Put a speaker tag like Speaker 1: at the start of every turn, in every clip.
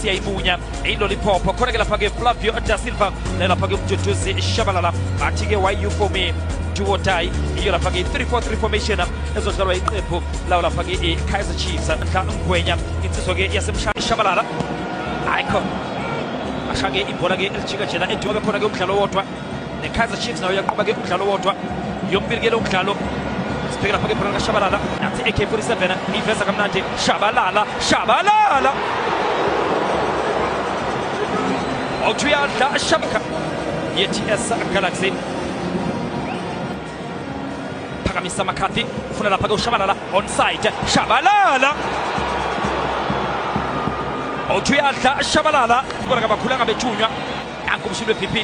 Speaker 1: siyayibunya iloliphopho khona-ke lapha-ke flavio da silva naye lapha-ke umduduzi shabalala bathi-ke wayu for me duo die iyo lapha-ke i-343 formation ezodlalwa iqembu lawo lapha-ke i-kaizer chiefs nhla ngwenya insizwa-ke yasemshabalala ayikho ashange ibhola-ke elijika jena eduka bekhona-ke umdlalo wodwa nekaizer chiefs nayo yaqhuba ke umdlalo wodwa yompilikele umdlalo sibheke lapha ke ibhola likashabalala nathi ak-47 iveza kamnandi shabalala shabalala othi uyadla shabaka ye-ts galaxy phakamisa makhathi ufuna lapha ke ushabalala onside shabalala othi uyadla shabalala bona kabakhulanga bethunywa nanku umshini we-bp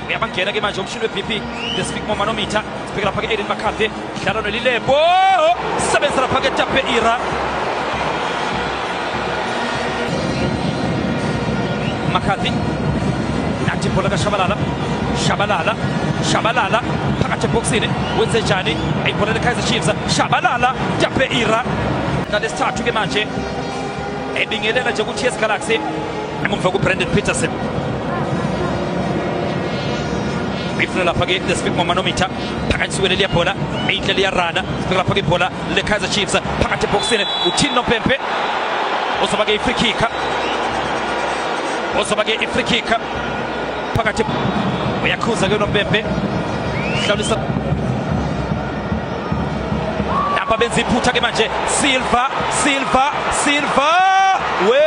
Speaker 1: uyabangena ke manje umshini we-bp the speak more manometer sibheke lapha ke-aiden makhathe dlala nolilembo sebenzisa lapha ke tape ira makhathi nathi ibhola kashabalala shabalala shabalala phakathi ebhokisini wenze njani ayibhola lekaizer chiefs shabalala tape ira nalesithathu ke manje ebingelela nje ukuthi yes galaxy Emuva kuBrandon Peterson. Ifuna lapha ke Desmond Manometer phakathi siwele liya bhola inhle liya rana sifika lapha ke bhola le Kaizer Chiefs phakathi eboxini uthini nompempe uzoba ke i-free kick uzoba ke i-free kick phakathi uyakhuza ke nompempe hlawulisa Nampa benza iphutha ke manje Silva Silva Silva we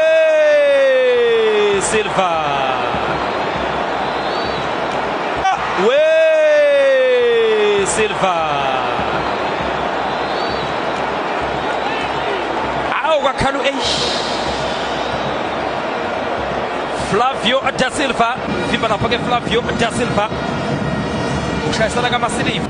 Speaker 1: Silva we Silva Awu kwakhala eish Flavio da Silva vimba lapha ke Flavio da Silva ushayisana kamasiliva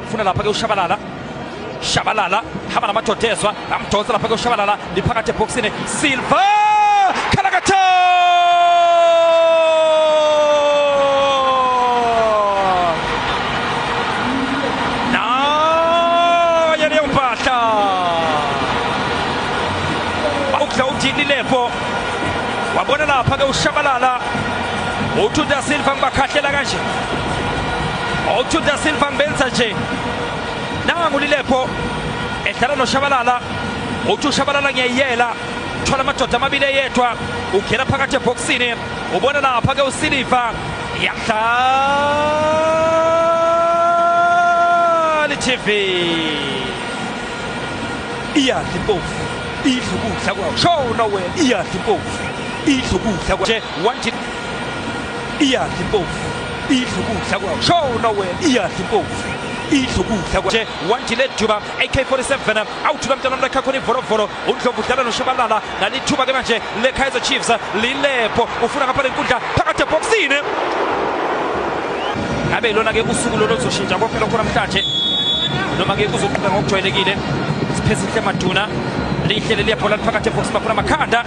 Speaker 1: funa lapha ke ushabalala shabalala hamba namadodezwa amdonsa lapha ke ushabalala liphakathi ebhoksini silva khalakatha naye leyo mpahla ukudla udini lepo wabona lapha ke ushabalala uthunta silva ngibakhahlela kanje Okthu da Silva Mbenza nje nangu Lilepho edlala noShabalala uthi uShabalala ngiyayiyela thola amadoda amabili eyedwa ugela phakathi ebhokisini ubona lapha ke uSiliva yadlali TV iyadla impofu idla ukudla kwawo show nowhere iyadla impofu idla ukudla kwawo nje one iyadla impofu idla ukudla kwawo shona wena iyadla impofu idla ukudla kwanje wandile duba ak-47 awuthuka mntana mnakhakhona ivolovolo undlovu udlala noshabalala nalithuba ke manje le-kaizer chiefs lilepho ufuna ngapha lenkundla phakathi ebhokisini ngabe ilona-ke usuku lolo luzoshintsha konke lokho namhlanje noma-ke kuzoqhuba ngokujwayelekile siphezinhle maduna lihlele liyabhola liphakathi ebhokisini bakhona amakhanda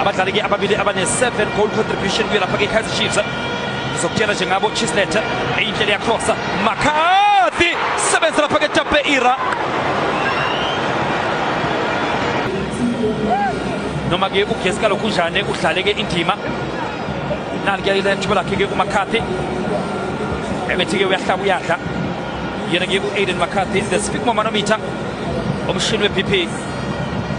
Speaker 1: abadlali-ke ababili abane-7 goal contribution kuye lapha-ke ikaizer chiefs ngizokutshela nje ngabo chislet eyinhle liyakrosa makathi sebenza lapha-ke tape ira noma-ke ugesi kalokhunjane udlale-ke indima nali-ke ithuba lakhe-ke umakhathi ebethi-ke uyahlaba uyadla yena-ke u-aiden makhathi the speak momanometer umshini we-bp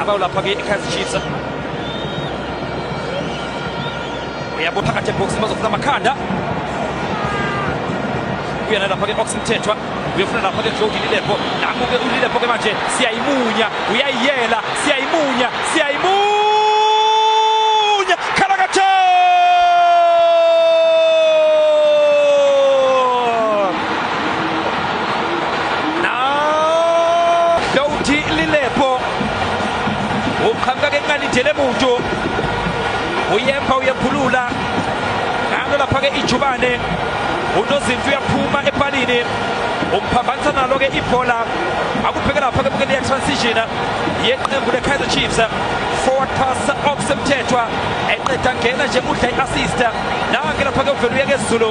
Speaker 1: abayo lapha kwi-kaizer chiefs uyabo phakathi ebhoksini bazofuna amakhanda uyena lapha ke oxmthethwa uyofuna lapha ke joe ulilepo nangu ke ulilepo ke manje siyayimunya uyayiyela siyayimunya siyayimunya khalakathe Douti lilepo uqhamuka ke encane ijele muntu uyemba uyephulula ngalo lapha ke ijubane unozinto uyaphuma epalini umphambanisa nalo ke ibhola akubheke lapha ke bukele transition yeqembu le-kaizer chiefs forward pass okusemthethwa eqeda ngena nje udla i-assist nange lapha ke uvele uye kezulu